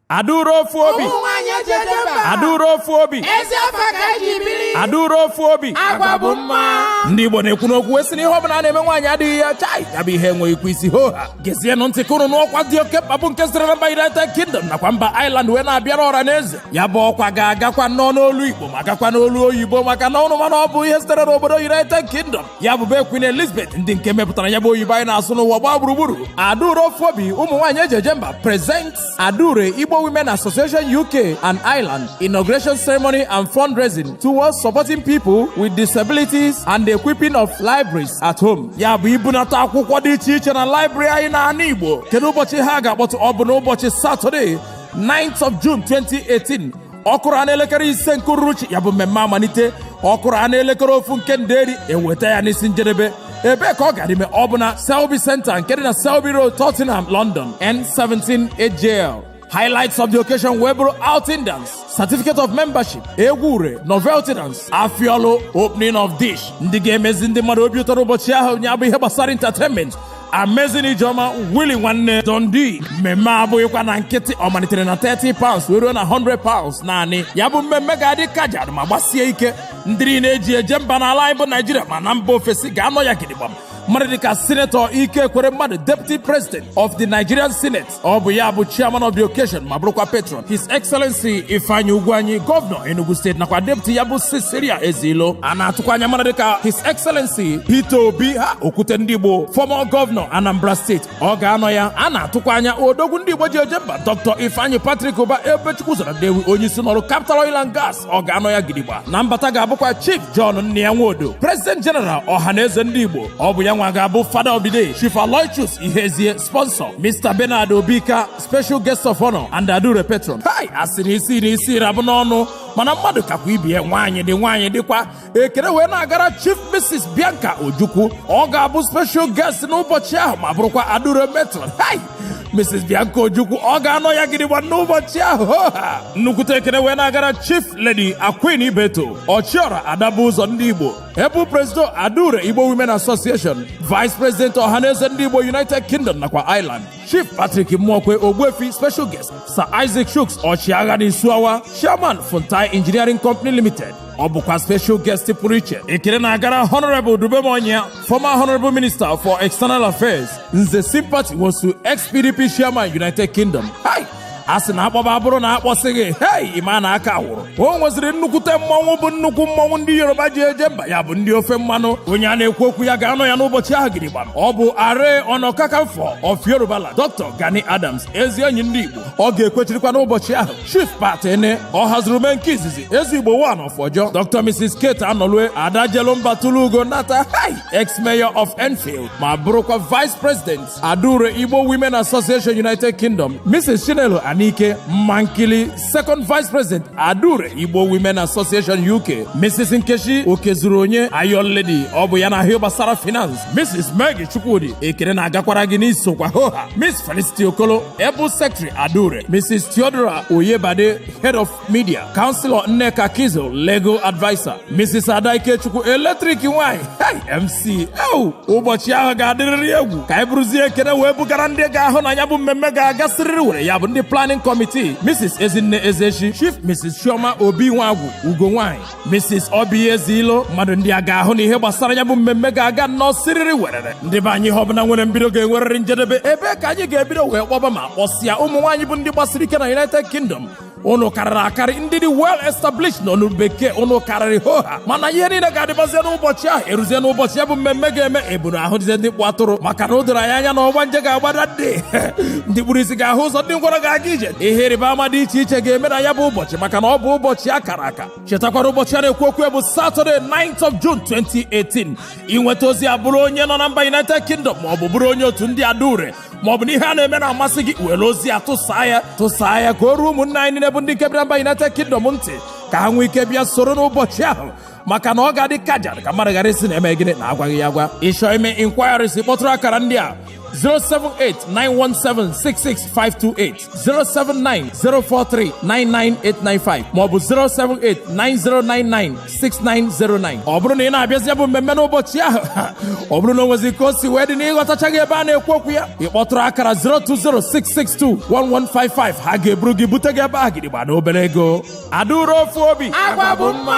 adaure ofu obi ụmụ nwaanyị eji eje mba adaure ofu obi ezi afa ka eji biri adaure ofu obi agwa bụ mma ndị igbo na-ekwu n'okwu wee sị na ihe ọbụla a na-eme nwaanyị adịghị ya chai ya bụ ihe enweghị ikwu isi ho ha gezienụ ntị ka unu nụ ọkwa dị oke mkpa bụ nke sitere na mba united kingdom nakwa mba ireland wee na-abịara ọra na eze ya bụ ọkwa ga-agakwa nnọọ n'olu igbo ma gakwa n'olu oyibo maka na unu ma na ọ bụ ihe sitere n'obodo united kingdom ya bụ be Queen Elizabeth ndị nke mepụtara ya bụ oyibo anyị na-asụ n'ụwa gbaa gburugburu Adaure ofu obi ụmụ nwaanyị eji eje mba present Adaure Igbo Women Association UK and Ireland inauguration ceremony and fundraising towards supporting people with disabilities and the equipping of libraries at home ya bụ ibunata akwụkwọ dị iche iche na library anyị n'ana Igbo kedu ụbọchị ha ga-akpọtụ ọ bụ n'ụbọchị Satọde 9th of June 2018 ọkụrụ a n'elekere ise nke uruchi ya bụ mmemme amalite ọkụrụ a n'elekere ofu nke nderi eweta ya n'isi njedebe ebee ka ọ gara ime ọ bụ na Selby Center nke dị na Selby Road Tottenham London N17 8JL highlights of the occasion wee bụrụ outing dance certificate of membership egwu ure novelty dance afiolo opening of dish ndị ga-emezi ndị mmadụ obi ụtọ ụbọchị ahụ ya bụ ihe gbasara entertainment Amazing Ijeoma Willie nwanne Don D mmemme abụghịkwa na nkịtị ọ malitere na 30 pounds wee ruo na 100 pounds naanị ya bụ mmemme ga-adị kajad ma gbasie ike ndị niile eji eje mba n'ala anyị bụ Naijiria ma na mba ofesi ga-anọ ya gidigba mmadụ dịka sinetọ Ike Ekweremadu deputy president of the Nigerian Senate ọ bụ ya bụ chairman of the occasion ma bụrụkwa patron his excellency ifeanyi ugwuanyi gọvanọ enugu steeti nakwa deputy ya bụ cecilia ezeilo a na-atụkwa anya mmadụ dịka his excellency peter obi ha okwute ndị igbo former gọvanọ anambra steeti ọ ga-anọ ya a na-atụkwa anya odogwu ndị igbo ji eje mba dr ifeanyi patrick ubah ebubechukwu ụzọ na nnewi onye isi n'ọrụ capital oil and gas ọ ga-anọ ya gidigba na mbata ga-abụkwa chief john nnia nwodo president general ọha na eze ndị igbo ọ bụ ya nwa ga-abụ father of the day chief aloysius ihezie Sponsor Mr. Bernard Obika, special guest of honor and Adaure patron. Hi, a sị na isi na isi ra bụ n'ọnụ mana mmadụ kakwa ibe ya nwaanyị dị nwaanyị dịkwa ekele wee na-agara Chief Mrs. Bianca Ojukwu ọ ga-abụ special guest n'ụbọchị ahụ ma bụrụkwa Adaure patron. Hi! Mrs. Bianca Ojukwu ọ ga-anọ ya gidigba n'ụbọchị ahụ ha nnukwute ekele wee na-agara Chief Lady Aqueen Ibeto ọchịọra adaba ụzọ ndị Igbo ya bụ Presido Adaure Igbo Women Association, Vice President Ohanaeze Ndị Igbo United Kingdom nakwa Ireland, Chief Patrick Muokwe Ogbuefi Special Guest, Sir Isaac Chuks Ọchịagha n'Isuawa, Chairman Fontai Engineering Company Limited, ọ bụkwa special guest pụrụ iche ekele na-agara honorable dubem onyia former honorable minister for external affairs nze sympathy nwosu ex-pdp chairman united kingdom a sị na akpọba bụrụ na akpọsịghị hei ịma na aka wụrụ o nweziri nnukwute mmọnwụ bụ nnukwu mmọnwụ ndị yoruba ji eje mba ya bụ ndị ofe mmanụ onye a na-ekwu okwu ya ga-anọ ya n'ụbọchị ahụ gidigbam ọ bụ aare ona kakanfo of yorubaland dr gani adams ezi enyi ndị igbo ọ ga-ekwechirikwa n'ụbọchị ahụ chief pat ene ọhazurumee nke izizi eze igbo one of ojo dr mrs kate anolue ada jelu mba tụlụ ugo nata hei ex mayor of enfield ma bụrụkwa vice president Adaure Igbo Women Association United Kingdom, Mrs. Chinelo Anike Mankili, Second Vice President Adaure Igbo Women Association UK, Mrs. Nkechi Okezuronye Iron Lady, ọ bụ ya na-ahụ ihe gbasara finance, Mrs. Maggie Chukwudi ekene na-agakwara gị na i sokwa hoha, Miss Felicity Okolo, Able Secretary Adaure, Mrs. Theodora Oyebade, Head of Media, Councilor Nneka Keazor, Legal Advisor, Mrs. Ada Ikechukwu, Electric Nwanyị, hey, MC, ewu, ụbọchị ahụ ga-adịrịrị egwu ka anyị buruzie ekene wee bugara ndị ga-ahụ na ya bụ mmemme ga-aga siriri were ya bụ ndị planning committee, Mrs. Ezinne Ezechi, Chief Mrs. Chioma Obi Nwagwu, Ugo Nwanyị, Mrs. Obi Ezilo, mmadụ ndị a ga-ahụ na ihe gbasara ya bụ mmemme ga-aga nnọọ siriri werere. Ndị be anyị ihe ọbụla nwere mbido ga-enwerịrị njedebe, ebe a ka anyị ga-ebido wee kpọba ma kpọsịa ụmụ nwaanyị bụ ndị gbasiri ike na United Kingdom ụnụ karịrị akarị ndị dị well established nọ n'olu bekee ụnụ karịrị ho ha mana ihe niile ga-adịbazie n'ụbọchị ahụ eruzie n'ụbọchị ya bụ mmemme ga-eme eburu ahụdịzie ndị kpụ atụrụ maka na o doro anyị anya na ọgbanje ga-agbada dị ndị kpụrụ isi ga-ahụ ụzọ ndị ngwọrọ ga-aga ije ihe ịrịba ama dị iche iche ga-eme na ya bụ ụbọchị maka na ọ bụ ụbọchị a kara aka chetakwara ụbọchị a na-ekwu okwu ya bụ Saturday 9th of June 2018 i nweta ozi a bụrụ onye nọ na mba United Kingdom ma ọ bụ bụrụ onye otu ndị adaure maọbụ na ihe a na-eme na-amasị gị were ozi a tụsaa ya tụsaa ya ka o ruo ụmụnna anyị niile bụ ndị nke bịara mba United Kingdom ntị ka ha nwee ike bịa soro n'ụbọchị ahụ maka na ọ ga-adị kaja ka mmadụ ghara ịsị na eme gịnị na agwaghị ya agwa ị chọọ ime inquiries kpọtụrụ akara ndị a 078 917 66528 07904399895 maọbụ 07890996909 ọ bụrụ na ị na-abịazi ya bụ mmemme n'ụbọchị ahụ ọ bụrụ na o nwezi ka o si wee dị na ị ghọtachaghị ebe a na-ekwu okwu ya ị kpọtụrụ akara 02066211155 ha ga-eburu gị bute gị ebe a gidigba na obere ego adaure ofu obi agwa bụ mma